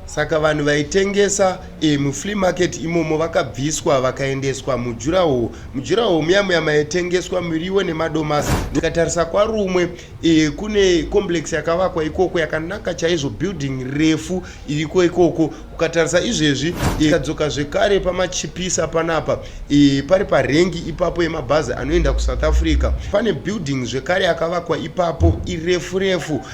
Saka vanhu vaitengesa e, muflea market imomo vakabviswa vakaendeswa mujuraho mujuraho muya muya maitengeswa miriwo nemadomasi ndikatarisa kwarumwe e, kune complex yakavakwa ikoko yakanaka chaizvo building refu iriko ikoko ukatarisa izvezvi ikadzoka e, zvekare pamachipisa panapa e, pari parengi ipapo yemabhazi anoenda kusouth africa pane building zvekare yakavakwa ipapo irefu refu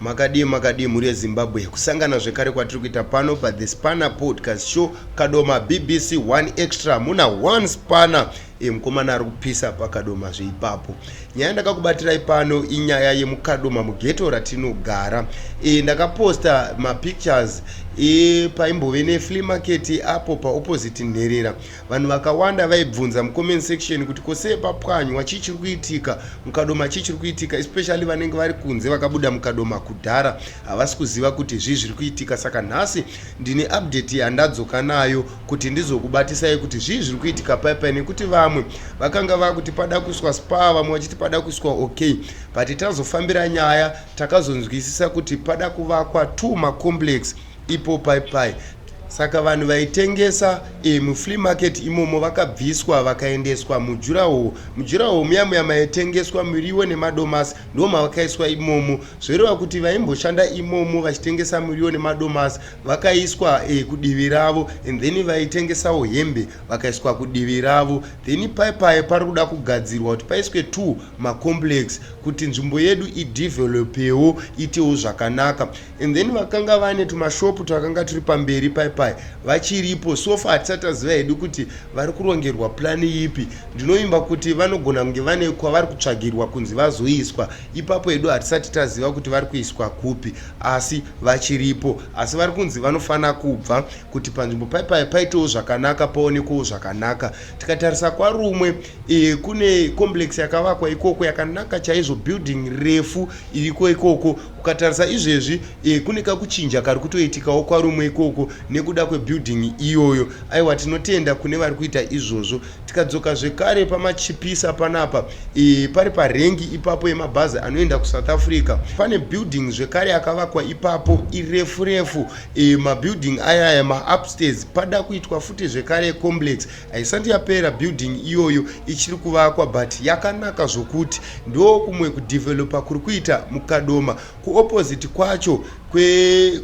makadii makadii mhuri yezimbabwe kusangana zvekare kwatiri kuita pano pa the spanner podcast show kadoma bbc one extra muna one spanner e, mukomana ari kupisa pakadoma zveipapo nyaya ndakakubatirai pano inyaya yemukadoma mugeto ratinogara e, ndakaposta mapictures e, paimbove neflea market apo paopposite nherera Vanhu vakawanda vaibvunza mucomment section kuti ko sei papwanywa chii chiri kuitika mukadoma chii chiri kuitika especially vanenge vari kunze vakabuda mukadoma kudhara havasi kuziva kuti zvii zviri kuitika saka nhasi ndine update yandadzoka nayo kuti ndizokubatisai kuti zvii zviri kuitika paipai nekuti vamwe vakanga vakuti pada kuiswa spa vamwe vachiti pada kuiswa okay but tazofambira nyaya takazonzwisisa kuti pada kuvakwa two macomplex ipo pai pai saka vanhu vaitengesa e, mufree market imomo vakabviswa vakaendeswa mujuraho mujuraho muya muya maitengeswa muriwo nemadomasi ndo mavakaiswa imomo zvoreva kuti vaimboshanda imomo vachitengesa muriwo nemadomasi vakaiswa e, kudivi ravo and then vaitengesawo hembe vakaiswa kudivi ravo then pai pai pari kuda kugadzirwa kuti paiswe two macomplex kuti nzvimbo yedu idevelopewo itewo zvakanaka and then vakanga vane tumashopu twakanga turi pamberi pai pai vachiripo sofa hatisati taziva hedu kuti vari kurongerwa plani ipi ndinovimba kuti vanogona kunge vane kwavari kutsvagirwa kunzi vazoiswa ipapo hedu hatisati taziva kuti vari kuiswa kupi asi vachiripo asi vari kunzi vanofanira kubva kuti panzvimbo pai pai paitewo zvakanaka paonekwewo zvakanaka tikatarisa kwarumwe e, kune complex yakavakwa ikoko yakanaka chaizvo building refu iriko ikoko Ukatarisa izvezvi eh, kune kakuchinja kari kutoitikawo kwarumwe ikoko nekuda kwebuilding iyoyo. Aiwa tinotenda kune vari kuita izvozvo. Tikadzoka zvekare pamachipisa panapa eh, pari parengi ipapo yemabhazi anoenda kuSouth Africa. Pane building zvekare akavakwa ipapo irefu refu eh, mabuilding ayaya maupstairs pada kuitwa futi zvekare complex haisati yapera building iyoyo ichiri kuvakwa but yakanaka zvokuti ndo kumwe kudevelopa kuri kuita mukadoma kuopposite kwacho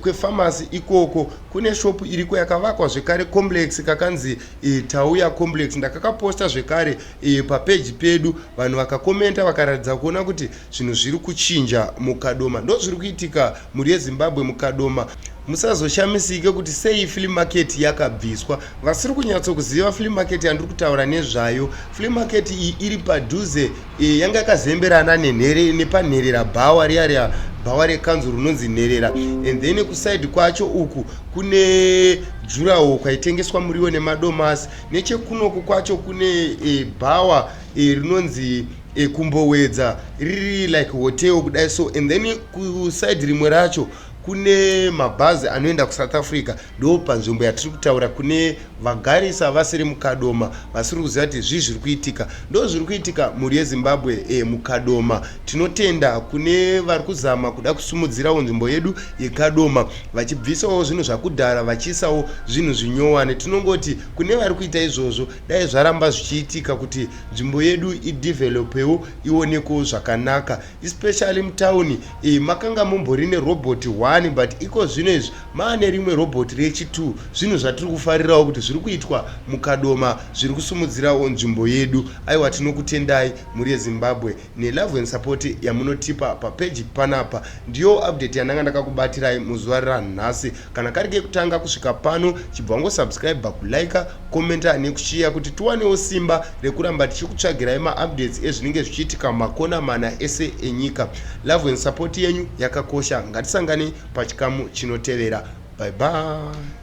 kwefamasi kwe ikoko kune shopu iriko yakavakwa zvekare complex kakanzi e, tauya complex ndakakaposta zvekare e, papeji pedu vanhu vakakomenta vakaratidza kuona kuti zvinhu zviri kuchinja mukadoma ndozviri kuitika Mhuri yeZimbabwe Mukadoma musazoshamisike kuti sei flea market yakabviswa vasiri kunyatsokuziva flea market yandiri kutaura nezvayo flea market iyi iri padhuze e, yanga yakazemberana nenhere nepanherera bhawa riya riya bhawa rekanzu rinonzi nherera and then kusaidi kwacho uku kune jurawo kwaitengeswa muriwo nemadomasi nechekunoku kwacho kune e, bhawa e, rinonzi e, e, kumbowedza riri like hotel kudai so and then kuside rimwe racho kune mabhazi anoenda kusouth africa ndo panzvimbo yatiri kutaura kune vagarisa vasiri mukadoma vasiri kuziva kuti zvii zviri kuitika ndo zviri kuitika mhuri yezimbabwe e, mukadoma tinotenda kune vari kuzama kuda kusimudzirawo nzvimbo yedu yekadoma vachibvisawo zvinhu zvakudhara vachiisawo zvinhu zvinyowani tinongoti kune vari kuita izvozvo dai zvaramba zvichiitika kuti nzvimbo yedu idevelopewo ionekewo zvakanaka especially mutown e, makanga mumbori nerobot one but iko zvino izvi maane rimwe robot rechi2 zvinhu zvatiri kufarirawo kuti zviri kuitwa mukadoma zviri kusimudzirawo nzvimbo yedu aiwa tinokutendai mhuri yezimbabwe nelove and support yamunotipa papage panapa ndiyo update yandanga ndakakubatirai muzuva ranhasi kana kari kekutanga kusvika pano chibva wangosubscribe kulike commenta nekushiya kuti tiwanewo simba rekuramba tichikutsvagirai maupdates ezvinenge zvichiitika makona mana ese enyika love and support yenyu yakakosha ngatisangane pachikamu chinotevera bye bye